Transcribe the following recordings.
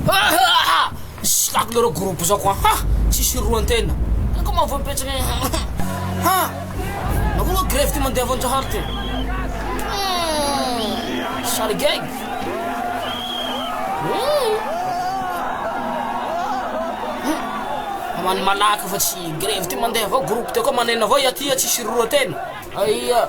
Hahaha! Tsy takona reo groupe zao koa ha! Tsisy hiroan tena. Ino ko mahavao betsaka e ha! Nahoana oe grevy ty mandeha vonjahary ty? Hum! Sary gag! Hamany malaky fa tsy grevy ty mandeha avao groupe teo koa maneno avao ia ty ia tsisy hiroan tena. Aia!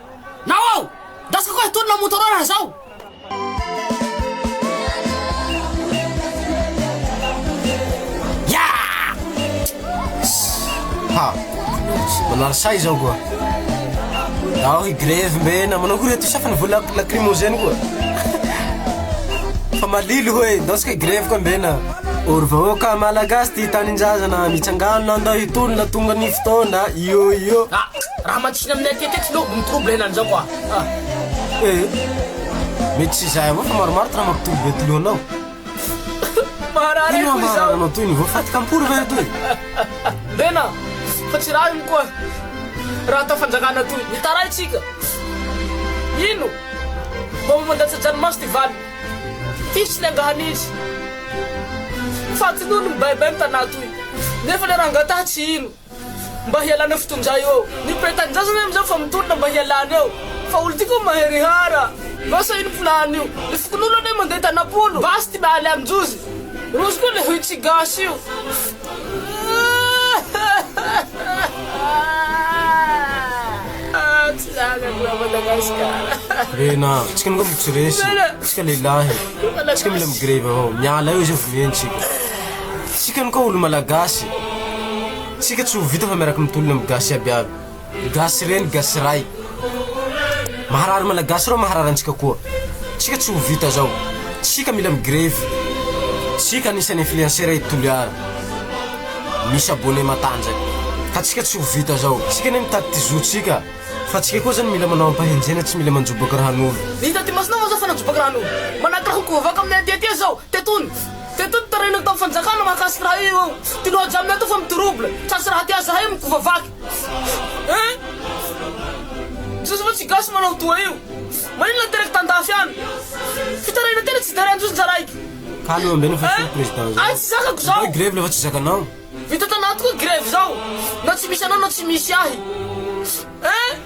Naou! Ndasiko koa hitolona Motorola zao! Haa! Manary sahy izao koa! Zaho hi-grevy mbe na manao akory eto sa fa nivola lacrymogène koa! Fa malilo hoe ndaosika hi-grevy koa mbe na! O ry vahoaka Malagasy tia tanin-jazana, mitsangàna ndao hitolona tonga ny fotoana, iô iô! Tena aminay aty akaiky no mi trouble anany zao quoi ah eh. Mety tsy izahay avao fa maromaro tena mampi trouble atoloha anao. Maharary ahy koa izao. Ino moa maharary anao toy ny voafaty kampory ve atoy? Vena fa tsy raha iny koa raha atao fanjakana toy mitaray tsika. Ino vao mandatsa-dranomaso ty valiny. Tys ny angahana izy. Fatin'olo mibaibay ny tanà toy nefa le rangataha tsy ino. Mba hialana eo fotonja eo. Ny mpiray tanindrazana ahy amin'izao fa mitolona mba hialana eo fa olo tiako mahery hara. Mba sahino mpilany io. Ny fokonolona anie mandeha tanam-polo. Basy ty mialy amin-jozy. Rozy koa le hoy tsy gasy io. Aah tsy zaka koa Madagasikara. Rena a! Tsika angamba tsy resy, tsika lehilahy, tsika mila mi-grevy avao, miala eo izay vonoentsika. Tsika aloka olo malagasy tsika tsy ho vita fa miaraka mitolona am gasy aby aby gasy reny gasy ray maharary malagasy reo maharary antsika koa tsika tsy ho vita zao tsika mila mi grevy tsika anisan'ny influenceur i toliara misy abone matanjaka ka tsika tsy ho vita zao tsika ne mitady ty zo tsika fa tsika koa zany mila manao ampahenjena tsy mila manjobaka rahanolo Ny hita aty masina moa zao fa najoboka rahanolo Manakiraha ho kovaka aminay aty aty zao Te tony Teto ny tarainany tamin'ny fanjakana mahakasika raha io eo. Tianao hajamina ato fa mi-trouble. Tsa sy raha te aza hay mikofa vaky. Hein? Jiosy ve tsy gasy manao toa io? Maninona teraka tan-dafy any? Fitaraina tena tsy derain-jiosy njaraiky. Calme ambe ny fahefana president zao. Ahy tsy zakako zao. Atao grevy le fa tsy zakanao. Vita tanaty koa grevy zao. Na tsy misy anao na tsy misy ahy. Hein?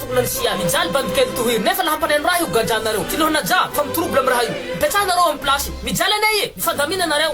Tokona ny sia mijaly bandy kely toa iry nefa la hampalahelo raha io gadra anareo kilôna ja fa mi trouble am raha io mipetraha nareo am place mijaly anie e mifandamina nareo.